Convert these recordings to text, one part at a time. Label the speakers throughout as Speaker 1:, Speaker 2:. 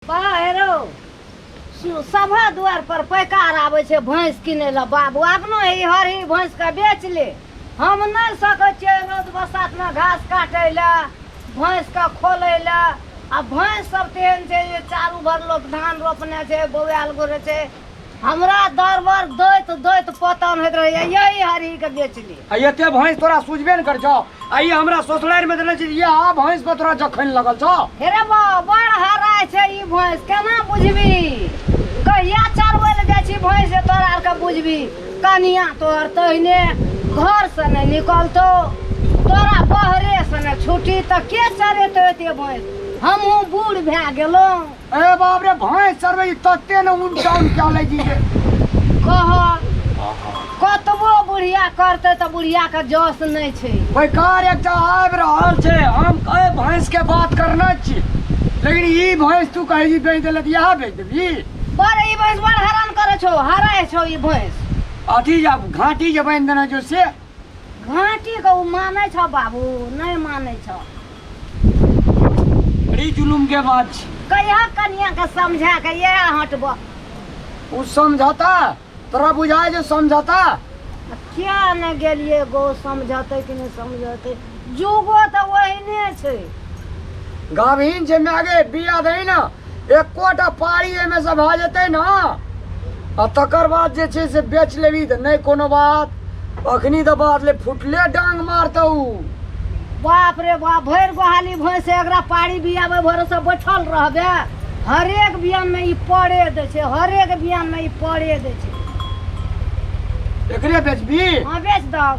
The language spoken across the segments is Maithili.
Speaker 1: बाहरो सभा दुआर पर पैकार आबै छै भैंस किनै लए बाबू अपनो ई हरी भैंस के बेच ले हम नहि सकै छियै रोज बसात मे घास काटै लए भैंस के खोलै लए आ भैंस सब तेहन छै जे चारू भर लोक धान रोपने छै बौआल गोरे छै हमरा दरबर दैत दैत पता नहि रहै यही हरी के बेचली आ एते भैंस तोरा
Speaker 2: सुझबे ने कर छौ आ ई हमरा ससुरारि में देने छी ये आ भैंस पर तोरा जखन लगल छौ हेरे बा बड़
Speaker 1: हराय छै ई भैंस केना बुझबी कहिया चरबै लए जाइ छी भैंस जे तोरा आर के बुझबी कनिया तोहर तहिने घर से नहि निकलतो तोरा बहरे से नहि छुटी तऽ के चरेतो एते भैंस हमहूँ बूढ़ भए गेलहुँ अरे बाप रे
Speaker 2: भाई सर भाई तत्ते ने उन डाउन क्या ले जी के कहल
Speaker 1: कतबो बुढ़िया करते तऽ बुढ़िया के जस नहि छै बेकार एक टा
Speaker 2: आबि रहल छै हम कहे भैंस के बात करना छी लेकिन ई भैंस तू कहे जी बेच देलक यहाँ बेच देबी बड़ ई भैंस
Speaker 1: बड़ हरान करे छौ हराय छौ ई भैंस अथी जब
Speaker 2: घाटी जे बांधि देना जो से घाटी
Speaker 1: को माने छो बाबू नहीं माने छो बड़ी
Speaker 2: जुलुम के बात छी कहिया कनिया के
Speaker 1: समझा के ये हटबो उ
Speaker 2: समझौता तोरा बुझाय जे समझौता क्या
Speaker 1: न गेलिए गो समझौते कि नहीं समझौते जुगो तऽ ओहिने छै
Speaker 2: गाभिन छै मागे बिया दही ने एकोटा पारी एहिमे से भऽ जेतै ने आ तकर बाद जे छै से बेच लेबही तऽ नहि कोनो बात अखनी तऽ बात ले फुटले डांग मारतौ
Speaker 1: बाप रे बाप भरि गोहाली भैंस एकरा पारी बियाबै भरोसे बैठल रहबे हरेक बियानमे ई पड़े दै छै हरेक बियानमे ई पड़े दै छै एकरे
Speaker 2: बेचबी हँ बेच दहक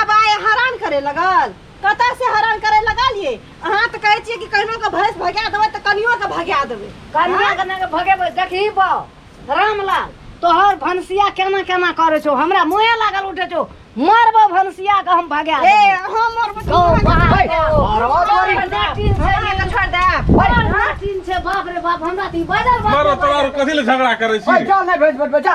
Speaker 3: आब आए हरान करे लगल कत से हरान करे लगल ये अहाँ तऽ कहै छियै कि कहिनो के भैंस भगा देबै तऽ कनियो के भगा देबै कनिया के नाके
Speaker 1: भगेबै देखही बा रामलाल तोहर भनसिया केना केना करै छौ हमरा मुहे लागल उठे छौ मारबो भनसिया के हम भगा ए देबौ। अहाँ मोर
Speaker 3: बच्चा
Speaker 1: गौ
Speaker 3: बाहर गौ।
Speaker 1: अरे ओ तोरी। छोड़ दे, टीन से
Speaker 3: हमरा के छोड़ दे बड़ नाटिन
Speaker 1: छै बाप रे बाप हमरा तऽ ई बाजल बाप मारो रे तोरा बाजल। कथी ले
Speaker 4: झगड़ा करे छी बैठा नहि भेज बैठ बैठा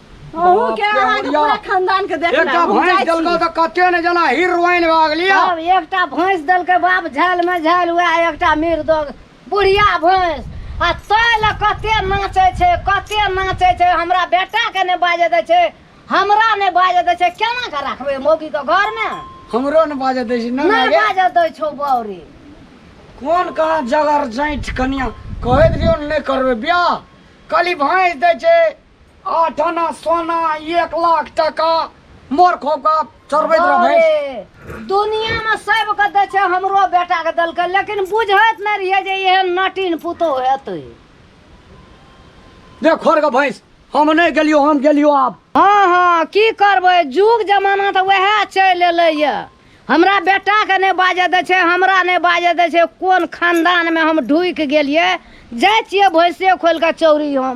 Speaker 2: अहू
Speaker 3: के अहाँके पूरा खानदान के देखना एकटा हम जाइ भैंस छी। देलको
Speaker 2: तऽ
Speaker 3: कते
Speaker 2: ने जना हीरोइन भऽ गेलियै तब एकटा भैंस
Speaker 1: देलकै बाप झाल में झाल हुआ एकटा मीर दो बुढ़िया भैंस आ तै लए कते नाचै छै कते नाचै छै हमरा बेटा के ने बाजे दै छै हमरा ने बाजे दै छै केना के रखबै मौगी के घर में हमरो ने बाजऽ
Speaker 2: दै छै ने नहि मागे बाजे दै छौ बौरी
Speaker 1: कोन
Speaker 2: कहाँ जगर जैठ कनिया कहैत रहियो ने नहि करबै बियाह कहली भैंस दै छै आठ आना सोना एक लाख टका मोर खोपका चढ़बैत रहै अरे, दुनियामे
Speaker 1: सबके दै छै हमरो बेटाके देलकै लेकिन बुझैत नहि रहियै जे एहन नटिन पुतोह हेतै
Speaker 2: देख खोर के भैंस हम नहीं गेलियो हम गेलियो आब हँ हँ की
Speaker 1: करबै जुग जमाना तऽ वएह चलि एलैए हमरा बेटाके नहि बाजऽ दै छै हमरा नहि बाजऽ दै छै कोन खानदानमे हम ढुकि गेलियै जाइ छियै भैंसे खोलि कऽ चौरी हम